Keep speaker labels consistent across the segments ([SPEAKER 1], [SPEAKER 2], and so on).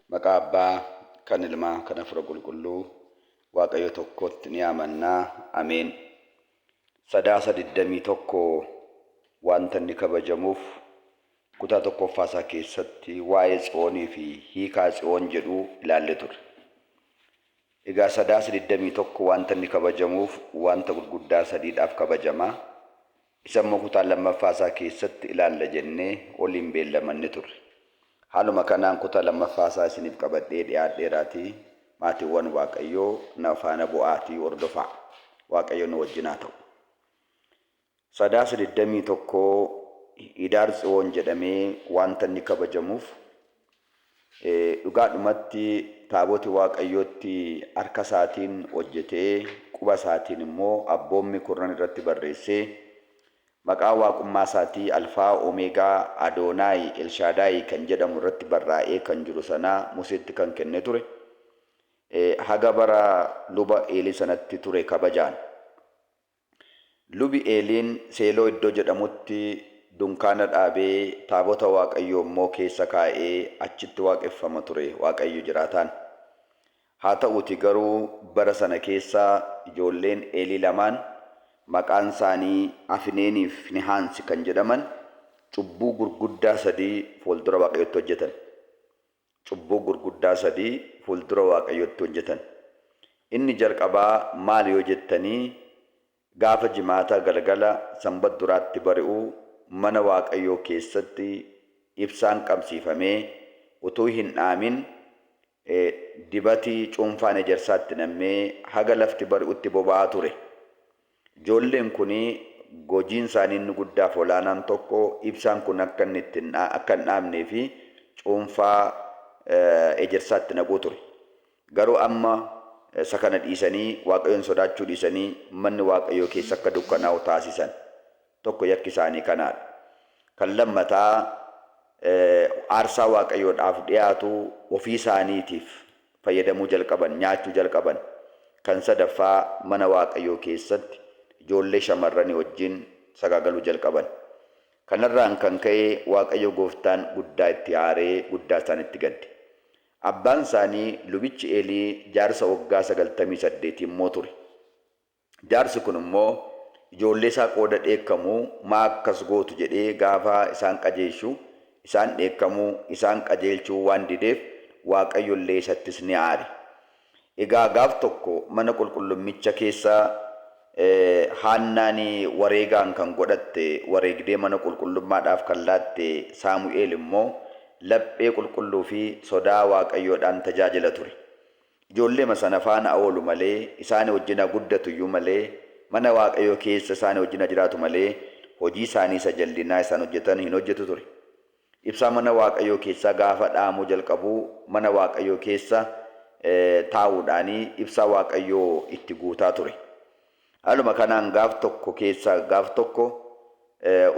[SPEAKER 1] Maqaa Abbaa, kan Ilmaa, kan Hafuura Qulqulluu, Waaqayyo tokkotti ni amanna. Ameen. Sadaasa 21 wanta inni kabajamuuf kutaa tokkoffaa isaa keessatti waa'ee Tsiyoonii fi hiikaa Tsiyoon jedhu ilaalle turre. Egaa Sadaasa 21 wanta inni kabajamuuf wanta gurguddaa sadiidhaaf kabajama. Isa immoo kutaa lammaffaa isaa keessatti ilaalla jennee waliin beellamanne turre. Haaluma kanaan kutaa lammaffaa isaa isiniif qabadhee dhiyaadheeraatii maatiiwwan Waaqayyoo na faana bu'aatii hordofaa. Waaqayyo nu wajjin haa ta'u. Sadaasa 21 Hidaar Tsiwoon jedhamee wanta inni kabajamuuf Dhugaadhumatti, taaboti Waaqayyootti harka isaatiin hojjetee, quba isaatiin immoo abboommii kurnan irratti barreessee, maqaa Waaqummaa isaatii Alfaa, Omeegaa, Adoonaayi, Elshaadaayi kan jedhamu irratti barraa'ee kan jiru sana Museetti kan kenne ture, haga bara luba Eelii sanatti ture kabajaan. Lubi Eeliin Seeloo iddoo jedhamutti dunkaana dhaabee, taabota Waaqayyoo immoo keessa kaa'ee achitti waaqeffama ture, Waaqayyo jiraataan. Haa ta'uutii garuu bara sana keessa ijoolleen Eelii lamaan maqaan isaanii Afineenii fi Finehaansi kan jedhaman cubbuu gurguddaa sadii fuuldura Waaqayyootti hojjetan. Cubbuu gurguddaa sadii fuuldura Waaqayyootti hojjetan. Inni jalqabaa maali yoo jettanii gaafa Jimaata galgala Sanbadduraatti bari'u mana Waaqayyoo keessatti ibsaan qabsiifamee utuu hin dhaamin dibati cuunfaan ejersaatti nammee haga lafti bari'utti boba'aa ture. Ijoolleen kun gojiin isaanii inni guddaa fi olaanaan tokko ibsaan kun akka inni itti hin akka hin dhaamnee fi cuunfaa ejersaa itti naquu ture. Garuu amma isa kana dhiisanii Waaqayyoon sodaachuu dhiisanii manni Waaqayyoo keessa akka dukkanaa'u taasisan. tokko yakki isaanii kanaa dha. Kan lammataa aarsaa Waaqayyoodhaaf dhi'aatu ofii isaaniitiif fayyadamuu jalqaban, nyaachuu jalqaban. Kan sadaffaa mana Waaqayyoo keessatti ijoollee shamarranii wajjin sagaagaluu jalqaban. Kanarraan kan ka'e Waaqayyo gooftaan guddaa itti aaree guddaa isaanitti gadde. Abbaan isaanii lubichi Eelii jaarsa waggaa 98 immoo ture. Jaarsi kun immoo ijoolleesaa qooda dheekkamu maa akkas gootu jedhee gaafa isaan qajeeshu isaan dheekkamuu, isaan qajeelchuu waan dideef Waaqayyo illee isattis ni aare. Egaa gaaf tokko mana qulqullummicha keessa Haannaan wareegaan kan godhatte wareegdee mana qulqullummaadhaaf kan laatte Saamu'eel immoo laphee qulqulluu fi sodaa Waaqayyoodhaan tajaajila ture. Ijoolleema sana faana haa oolu malee, isaani wajjin haa guddatu iyyuu malee, mana Waaqayyoo keessa isaani wajjin haa jiraatu malee, hojii isaanii isa jallinaa isaan hojjetan hin hojjetu ture. Ibsaa mana Waaqayyoo keessaa gaafa dhaamuu jalqabu mana Waaqayyoo keessa taa'uudhaani ibsaa Waaqayyoo itti guutaa ture. Haaluma kanaan gaaf tokko keessaa gaaf tokko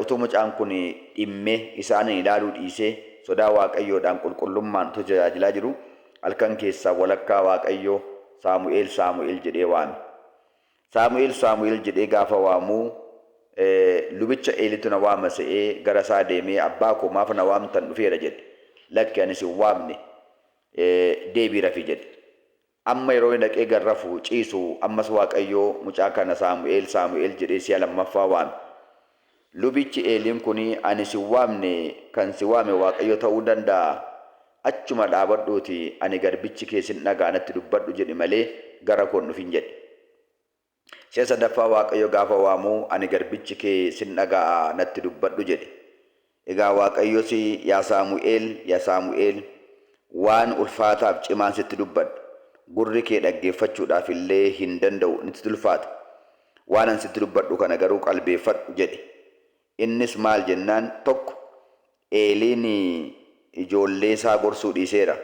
[SPEAKER 1] utuu mucaan kun dhimmee isaaniin ilaaluu dhiisee sodaa Waaqayyoodhaan qulqullummaan utuu tajaajilaa jiruu halkan keessaa walakkaa Waaqayyo Saamu'eel Saamu'eel jedhee waame. Saamu'eel Saamu'eel jedhee gaafa waamu lubicha Eelitu na waama se'ee gara isaa deemee abbaa koo maaf na waamtan dhufeera jedhe. Lakki ani sin waamne deebii rafi jedhe. Amma yeroo inni dhaqee gad rafu, ciisu, ammas Waaqayyo, Mucaa kana Saamu'eel, Saamu'eel jedhee si'a lammaffaa waame. Lubichi Eeliin kun, Ani sin waamne, kan si waame Waaqayyo ta'uu danda'aa? Achuma dhaabadhuutii, Ani garbichi kee sin dhaga'a natti dubbadhu jedhi malee, gara koo hin dhufin jedhe. Si'a sadaffaa Waaqayyo gaafa waamu, Ani garbichi kee sin dhaga'a, natti dubbadhu jedhe. Egaa Waaqayyos, Yaa Saamu'eel, yaa Saamu'eel, waan ulfaataaf cimaan sitti dubbadha, gurri kee dhaggeeffachuudhaaf illee hin danda'u, nitti ulfaata. Waanan sitti dubbadhu kana garuu qalbeeffadhu jedhe. Innis maal jennaan, tokko, Eeliin ijoolleesaa gorsuu dhiiseera.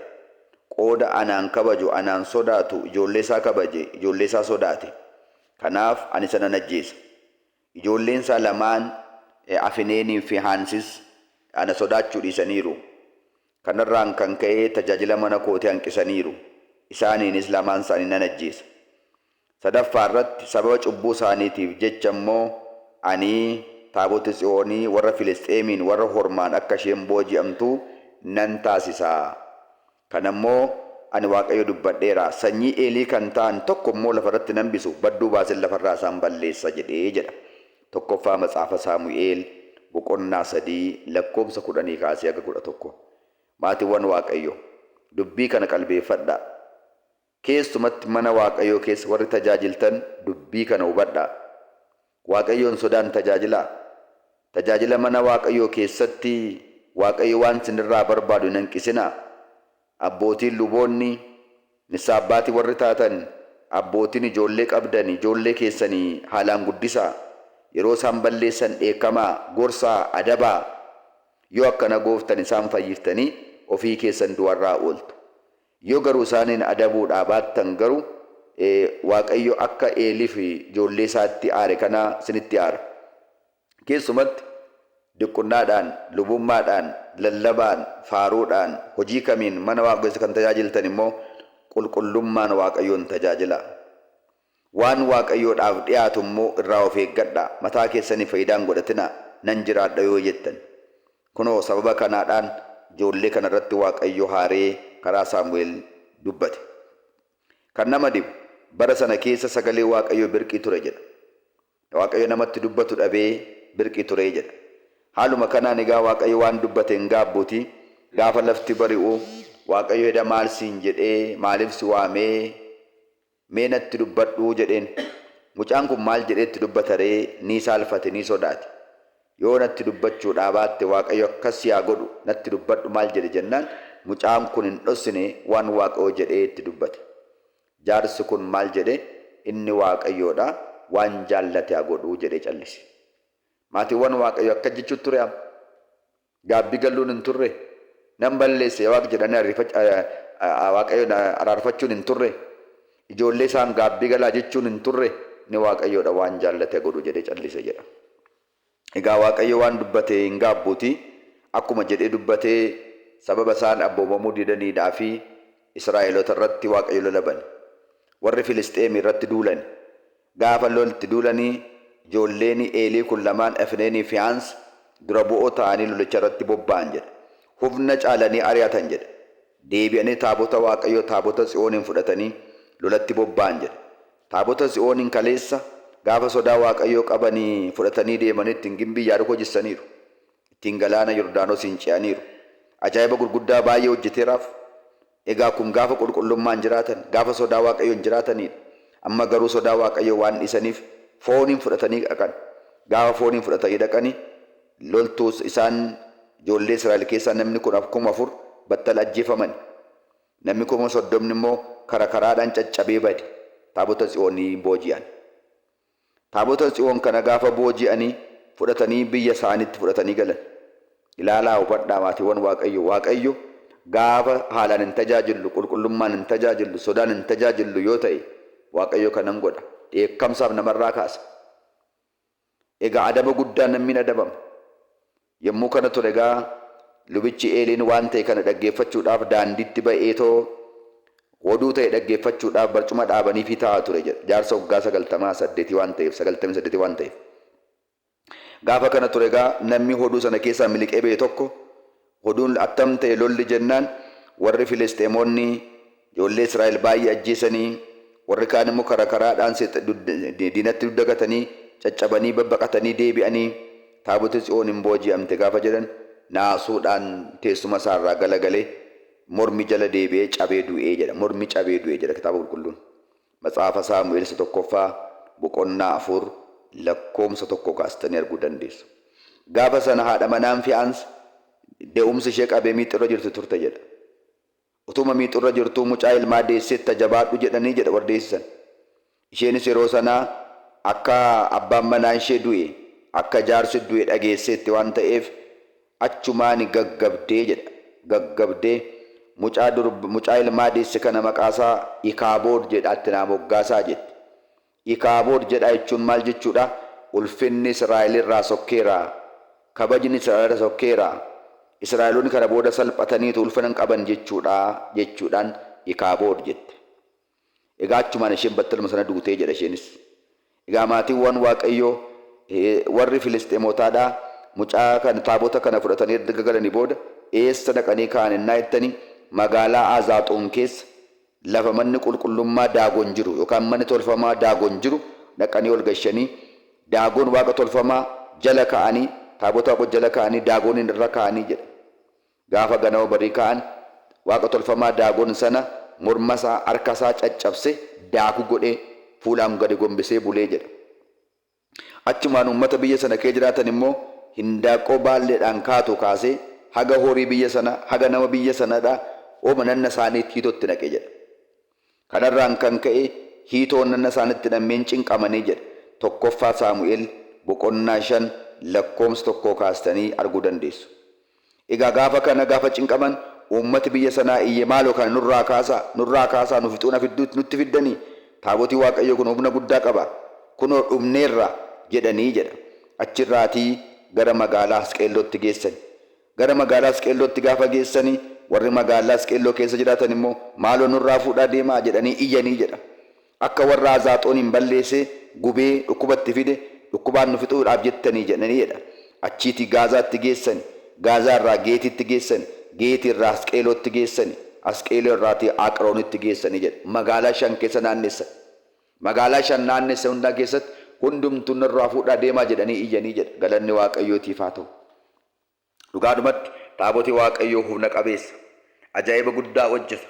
[SPEAKER 1] Qooda anaan kabaju, anaan sodaatu ijoolleesaa kabaje, ijoolleesaa sodaate. Kanaaf ani isa nan ajjeesa. Ijoolleensaa lamaan Afineeniifi Haansis ana sodaachuu dhiisaniiru. Kanarraan kan ka'e tajaajila mana kootii hanqisaniiru, isaaniinis lamaan isaanii nan ajjeesa. Sadaffaa irratti sababa cubbuu isaaniitiif jecha immoo ani taabota Tsiyoonii warra Filisxeemiin warra Hormaan akka isheen booji'amtu nan taasisa. Kana immoo ani Waaqayyo dubbadheera, sanyii Eelii kan ta'an tokko immoo lafa irratti hin hambisu, badduu baaseen lafa irraa isaan balleessa jedhe jedha. 1ffaa Macaafa Saamu'eel boqonnaa 3 lakkoofsa 10 kaasee haga 11. Maatiwwan Waaqayyoo, dubbii kana qalbeeffadhaa. Keessumatti mana Waaqayyoo keessa warri tajaajiltan dubbii kana hubadhaa. Waaqayyoon sodaan tajaajilaa. Tajaajila mana Waaqayyoo keessatti Waaqayyo waan sinirraa barbaadu hin hanqisinaa. Abbootiin luboonni, Nissaa Abbaati warri taatan, abbootiin ijoollee qabdan ijoollee keessani haalaan guddisaa. Yeroo isaan balleessan dheekkamaa, gorsaa, adabaa. Yoo akkana gooftan isaan fayyiftanii ofii keessan du'arraa ooltu. Yoo garu isaaniin adabuudhaa baattan garu Waaqayyo akka Eeliif ijoollee isaatti aare kana sinitti aara. Keessumatti, diqqunaadhaan, lubummaadhaan, lallabaan, faaruudhaan, hojii kamiin mana Waaqa keessa kan tajaajiltan immoo qulqullummaan Waaqayyoon tajaajilaa. Waan Waaqayyoodhaaf dhi'aatu immoo irraa of eeggadhaa, mataa keessaniif fayidaa hin godhatinaa, nan jiraadha yoo jettan. Kunoo sababa kanaadhaan ijoollee kana irratti Waaqayyo haaree karaa Saamu'eel dubbate. Kan nama dhibu, bara sana keessa sagalee Waaqayyoo birqii ture jedha. Waaqayyo namatti dubbatu dhabee birqii turee jedha. Haaluma kanaan egaa Waaqayyo waan dubbate hin gaabbuutii gaafa lafti bari'u Waaqayyo heda maal siin jedhee maaliif si waamee mee natti dubbadhuu jedheen mucaan kun maal jedhee itti dubbataree nii saalfate nii sodaate yoo natti dubbachuudhaa baatte Waaqayyo akkas si haa godhu natti dubbadhu maal jedhe jennaan mucaan kun hin dhossine waan Waaqayyo jedhee itti dubbate Jaarsi kun maal jedhe? Inni Waaqayyoo dha, waan jaallate haa godhu jedhee callise. Maatiiwwan Waaqayyoo akkas jechuu ture amma? Gaabbii galluun hin turre? Nan balleesse yaa Waaq jedhanii Waaqayyoon araarfachuun hin turre? Ijoollee isaan gaabbii galaa jechuun hin turre? Inni Waaqayyoo dha, waan jaallate haa godhu jedhee callise jedha. Egaa Waaqayyo waan dubbate hin gaabbuuti, akkuma jedhee dubbate sababa isaan abboomamuu didaniidhaafi Israa'eloota irratti Waaqayyo lola bane. Warri Filisxeemi irratti duulani. Gaafa lol itti duulani ijoolleeni Eelii kun lamaan Efneeni Fihaans dura bu'oo ta'ani lolicha irratti bobba'an jedha. Hufna caalani ari'atan jedha. Deebi'ani taabota Waaqayyoo taabota Tsiyooniin fudhatani lolatti bobba'an jedha. Taabota Tsiyooniin kaleessa gaafa sodaa Waaqayyoo qabanii fudhatanii deeman ittiin gimbii Yaarikoo jissaniiru. Ittiin galaana Yordaanosiin ce'aniiru. Ajaa'iba gurguddaa baay'ee hojjeteeraaf. Egaa kun gaafa qulqullummaan jiraatan, gaafa sodaa Waaqayyoon jiraataniidha. Amma garuu sodaa Waaqayyoo waan dhiisaniif fooniin fudhatanii dhaqan. Gaafa fooniin fudhatanii dhaqani loltuus isaan ijoollee Israa'el keessaa namni 14,000 battala ajjeefamani. Namni kuma soddomni immoo kara karaadhaan caccabee bade, Taabota Tsiyoon ni booji'an. Taabota Tsiyoon kana gaafa booji'anii fudhatanii biyya isaaniitti fudhatanii galan. Ilaalaa hubadhaa maatiiwwan Waaqayyoo, Waaqayyo gaafa haalaan hin tajaajillu, qulqullummaan hin tajaajillu, sodaan hin tajaajillu yoo ta'e, Waaqayyo kanan godha, dheekkamsaaf namarraa kaasa. Egaa adaba guddaan namni hin adabama. Yommuu kana ture egaa lubichi Eeliin waan ta'e kana dhaggeeffachuudhaaf daandiitti ba'eetoo oduu ta'e dhaggeeffachuudhaaf barcuma dhaabaniifii taa'a ture jedha. Jaarsa waggaa sagaltamaa saddeetii waan ta'eef, sagaltamii saddeetii waan ta'eef. Gaafa kana ture egaa namni oduu sana keessaa miliqee ba'e tokko Oduun attam ta'e lolli jennaan warri Filisxeemoonni ijoollee Israa'el baay'ee ajjeesanii, warri kaan immoo karaa karaadhaan diinatti dugda gatanii, caccabanii, babbaqatanii deebi'anii, Taaboti Tsiyoon in booji'amte gaafa jedhan naasuudhaan teessuma isaa irraa galagalee mormi jala deebi'ee cabee du'e jedha. Mormi cabee du'e jedha Kitaaba Qulqulluun. Macaafa Saamu'eel Isa 1ffaa boqonnaa 4 lakkoomsa 1 kaastanii arguu dandeessu. Gaafa sana haadha manaan Fiyaans de'umsi ishee qabee miixurra jirti turte jedha. Utuma miixurra jirtuu mucaa ilmaa deesseetta jabaadhu jedhanii jedha warri deessisan. Isheenis yeroo sana akka abbaan manaa ishee du'e, akka jaarsi du'e dhageesseetti waan ta'eef Achumaani gaggabdee jedha gaggabdee mucaa durb mucaa ilmaa deesse kana maqaasaa Ikaabood jedhaa itti naa moggaasaa jette. Ikaabood jedhaa jechuun maal jechuudha? Ulfinni Israa'elirraa sokkeera, kabajni Israa'elirra sokkeera, Israa'eloonni kana booda salphataniitu ulfina hin qaban jechuudha jechuudhaan Ikaabood jette. Egaa achumaan isheen battaluma sana duute jedha isheenis. Egaa maatiiwwan Waaqayyoo warri Filisxeemotaa dha, mucaa kana taabota kana fudhatanii erga galanii booda eessa dhaqanii kaa'an ennaa jettanii magaalaa Azaaxoon keessa lafa manni qulqullummaa Daagon jiru yookaan manni tolfamaa Daagon jiru dhaqanii ol gashanii Daagon waaqa tolfamaa jala kaa'anii taabota Waaqayyoo jala kaa'anii Daagoniin irra kaa'anii jedha. Gaafa ganama barii ka'an waaqa tolfamaa Daagon sana mormasaa, harkasaa caccabse daakuu godhee fuulaan gadi gombisee bule jedha. Achumaan uummata biyya sana kee jiraatan immoo hindaaqqoo baalleedhaan kaatu kaasee haga horii biyya sana, haga nama biyya sanadha, oma nanna saaniitti hiitoo itti naqe jedha. Kanarraan kan ka'e hiitoo onnanna isaanitti nammeen cinqamanii jedha 1ffaa Saamu'el boqonnaa 5 lakkoomsa 1 kaastanii arguu dandeessu. Egaa gaafa kana gaafa cinqaman uummati biyya sanaa iyye maaloo kana nurraa kaasaa, nurraa kaasaa nu fixuu na fidduutti nutti fiddanii? Taabotii Waaqayyoo kun humna guddaa qaba. Kunoo dhumneerra jedhanii jedha. Achirraatii gara magaalaa Asqeellootti geessani. Gara magaalaa Asqeellootti gaafa geessani warri magaallaa Asqeelloo keessa jiraatan immoo maaloo nurraa fuudhaa deemaa jedhanii iyyanii jedha. Akka warra Azaaxooniin balleesee, gubee, dhukkuba itti fide, dhukkubaan nu fixuudhaaf jettanii jedhanii jedha. Achiitii Gaazaatti geessani. Gaazaa irraa Geetiitti geessani. Geeti irraa Asqeelootti geessani. Asqeeloo irraatii Aaqroonitti geessani jedha. Magaalaa shan keessa naannessan. Magaalaa shan naannessan hundaa keessatti hundumtuu narraa fuudhaa deemaa jedhanii iyyanii jedha. Galanni Waaqayyootiif haa ta'u. Dhugaadhumatti, Taaboti Waaqayyoo humna qabeessa, ajaa'iba guddaa hojjeta.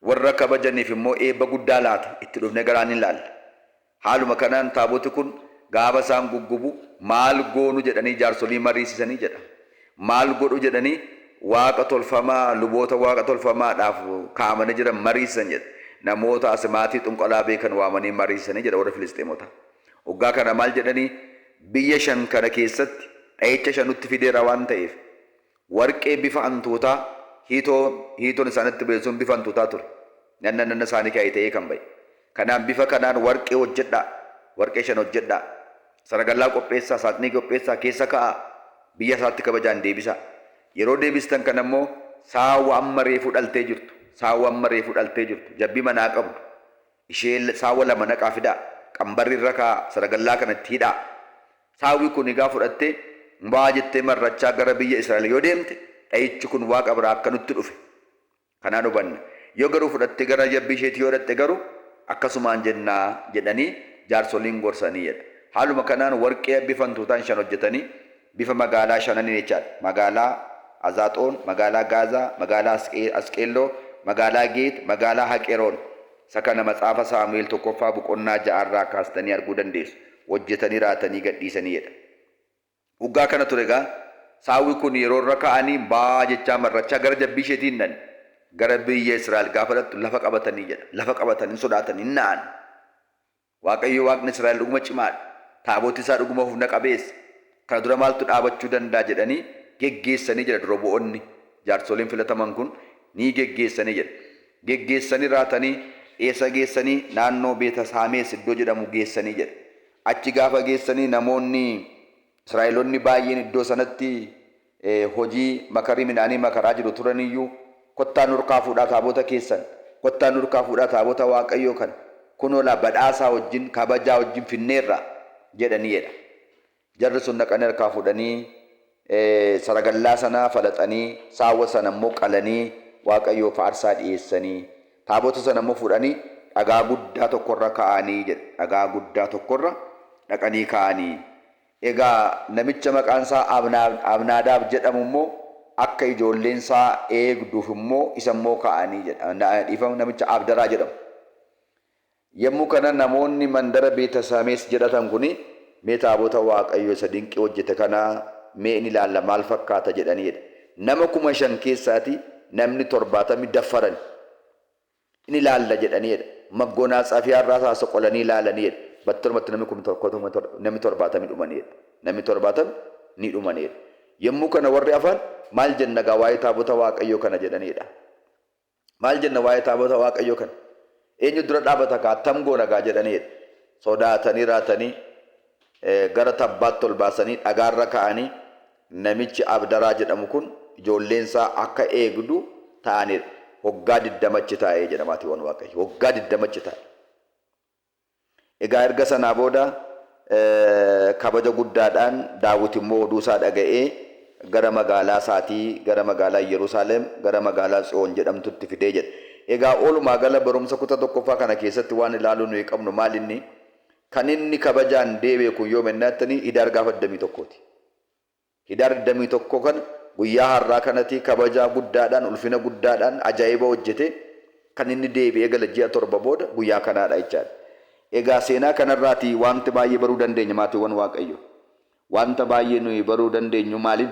[SPEAKER 1] Warra kabajaniif immoo eebba guddaa laata, itti dhufnee garaa ni ilaalla. Haaluma kanaan Taaboti kun gaafa isaan guggubu maal goonu jedhanii jaarsolii mariisisanii jedha. Maal godhu jedhanii waaqa tolfamaa, luboota waaqa tolfamaadhaaf kaa'amanii jiran mariisisan jedha. Namoota asimaatii xunqalaa beekan waamanii mariisisanii jedha warri Filisxeemotaa. Oggaa kana maal jedhanii biyya shan kana keessatti dha'icha shan nutti fideera waan ta'eef warqee bifa antootaa hiitoon hiitoon isaan itti ba'e sun bifa antootaa ture nanna nanna isaanii ka'e ta'ee kan ba'e kanaan bifa kanaan warqee hojjedhaa warqee shan hojjedhaa saragallaa qopheessaa saaxinii qopheessaa keessa ka'aa biyya isaatti kabajaan deebisaa yeroo deebistan kana immoo saawwa amma reefuu dhaltee jirtu saawwa amma reefuu dhaltee jirtu jabbii manaa qabdu ishee saawwa lama naqaa fidaa, qambarri irra kaa'aa, saragallaa kana itti hidhaa. Saawwi kun higaa fudhattee, mbaa jettee mar'achaa gara biyya Israa'el yoo deemte, dha'ichi kun Waaqa biraa akka nutti dhufe kanaan hubanna. Yoo garuu fudhattee gara jabbii isheetii yoo dhaqxe garuu, akkasumaan jenna jedhanii jaarsoliin gorsanii jedha. Haaluma kanaan warqee abbiif hantuutaan shan hojjetanii, Bifa magaalaa shananiin jechaadha. Magaalaa Azaaxoon, magaalaa Gaazaa, magaalaa Asqeelloo, magaalaa Geet, magaalaa Haqeroon. Isa kana Macaafa Saamu'eel tokkoffaa boqonnaa 6 irraa kaastanii arguu dandeessu. Hojjetanii raatanii gadhiisanii jedha. Hoggaa kana ture egaa saawwi kun yeroo irra kaa'anii baa jechaa mar'achaa gara jabbii isheetii hin dhaqne. Gara biyya Israa'el gaafa dhaqxu lafa qabatanii jedha. Lafa qabatan hin sodaatan hin na'an. Waaqayyo Waaqni Israa'el dhuguma cimaa dha, Taaboti isaa dhuguma hufna qabeessa, kana dura maaltu dhaabachuu danda'a jedhanii geggeessanii jedha dura bu'oonni, jaarsoliin filataman kun ni geggeessanii jedha. Geggeessanii raatanii eessa geessanii naannoo Beeta Saamees iddoo jedhamu geessanii jedha. Achi gaafa geessanii namoonni Israa'elonni baay'een iddoo sanatti hojii makarii midhaanii makaraa jiru turan iyyuu, Kottaa nurkaa fuudhaa taabota keessan, kottaa nurkaa fuudhaa taabota Waaqayyoo kan kunoo laa badhaasaa wajjin, kabajaa wajjin finneerra jedhanii jedha. Jarri sun dhaqanii harkaa fuudhanii saragallaa sana falaxanii, saawwa sana immoo qalanii Waaqayyoof aarsaa dhiyeessanii, taabota sana immoo fuudhanii dhagaa guddaa tokkorra kaa'anii jedha. Dhagaa guddaa tokkorra dhaqanii kaa'anii. Egaa namicha maqaan isaa Abnaadaab jedhamu immoo akka ijoolleen isaa eegduuf immoo isa immoo kaa'anii jedha, dhiifama, namicha Abdaraa jedhamu. Yommuu kana namoonni mandara Beetasamees jedhatan kun, Mee taabota Waaqayyoo isa dinqii hojjete kana mee in ilaalla, maal fakkaata jedhanii jedha. Nama kuma shan keessaatii namni torbaatamni daffarani. in ilaalla jedhanii dha. Maggoonaatsaafiyaa irraa isaa soqolanii ilaalanii dha. Battalumatti namni kumni tokko tokko torba, namni torbaatami dhumanii dha. Namni torbaatami ni dhumanii dha. Yommuu kana warri hafan, Maal jenna egaa waa'ee Taabota Waaqayyoo kana? jedhanii dha. Maal jenna waa'ee Taabota Waaqayyoo kana? Eenyu dura dhaabata egaa? Attam goona egaa? jedhanii dha. Sodaatanii raatanii gara tabbaatti ol baasanii dhagaa irra kaa'anii Namichi Abdaraa jedhamu kun ijoolleen isaa akka eegdu ta'anii dha. Waggaa 20 achi taa'e jedha maatiiwwan Waaqayyoo. Waggaa 20 achi taa'e. Egaa erga sanaa booda kabaja guddaadhaan Daawit immoo oduu isaa dhaga'ee gara magaalaa isaatii, gara magaalaa Iyyerusaaleem, gara magaalaa Tsiyoon jedhamtutti fidee jedha. Egaa walumaa gala barumsa kuta tokkoffaa kana keessatti waan ilaaluu nuyi qabnu maal inni? Kan inni kabajaan deebi'e kun yoom ennaa jettanii Hidaar gaafa 21 ti. Hidaar 21 kana guyyaa har'aa kanati kabajaa guddaadhaan, ulfina guddaadhaan, ajaa'iba hojjetee kan inni deebi'ee gale ji'a 7 booda guyyaa kanaa dha jechaa dha. Egaa seenaa kana irraa ti waanti baay'ee baruu dandeenya maatiiwwan Waaqayyoo. Waanta baay'ee nuyi baruu dandeenyu maalin?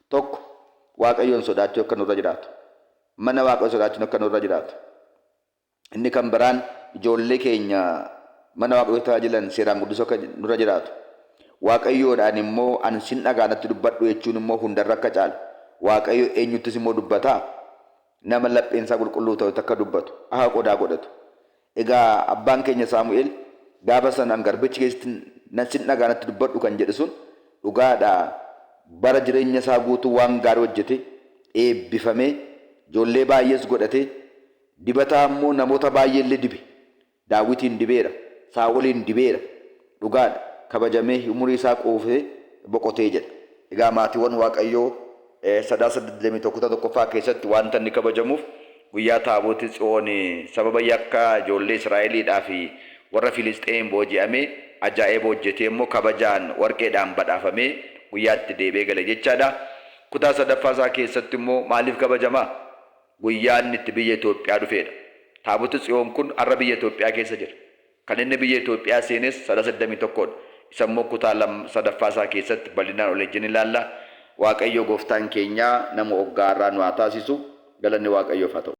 [SPEAKER 1] Tokko, Waaqayyoon sodaachuu akka nurra jiraatu. Mana Waaqayyoo sodaachuun akka nurra jiraatu. Inni kan biraan ijoollee keenya mana Waaqayyootti tajaajilan seeraan guddisuu akka nurra jiraatu. Waaqayyoodhaan immoo ani sin dhaga'a natti dubbadhu jechuun immoo hundarra akka caalu. Waaqayyo eenyuttis immoo dubbataa? Nama lapheen isaa qulqulluu ta'utti akka dubbatu, akka qodaa godhatu. Egaa abbaan keenya Saamu'eel gaafa sana an garbichi kee sin dhaga'a natti dubbadhu kan jedhe sun dhugaadha bara jireenya isaa guutuu waan gaarii hojjetee eebbifamee ijoollee baay'ees godhatee Dibataa ammoo namoota baay'eellee dibe. Daawitiin dibeera. Saa'oliin dibeera. Dhugaadha, kabajamee umurii isaa quufee boqotee jedha. Egaa maatiiwwan Waaqayyoo Sadaasa 21 kutaa 1ffaa keessatti wanta inni kabajamuuf guyyaa Taaboti Tsiyoon sababa yakka ijoollee Israa'eliidhaa fi warra Filisxeemiin booji'amee ajaa'eba hojjetee immoo kabajaan warqeedhaan badhaafamee guyyaa itti deebi'ee gale jechaadha. Kutaa sadaffaa isaa keessatti immoo maaliif kabajamaa? Guyyaa inni itti biyya Itoophiyaa dhufeedha. Taaboti Tsiyoon kun har'a biyya Itoophiyaa keessa jira. Kan inni biyya Itoophiyaa seenes Sadasa 21 dha. Isa immoo kutaa 2 sadaffaa isaa keessatti bal'inaan ol ejjennee ilaalla. Waaqayyoo gooftaan keenyaa nama oggaa har'aa nu haa taasisu. Galanni Waaqayyoof haa ta'u.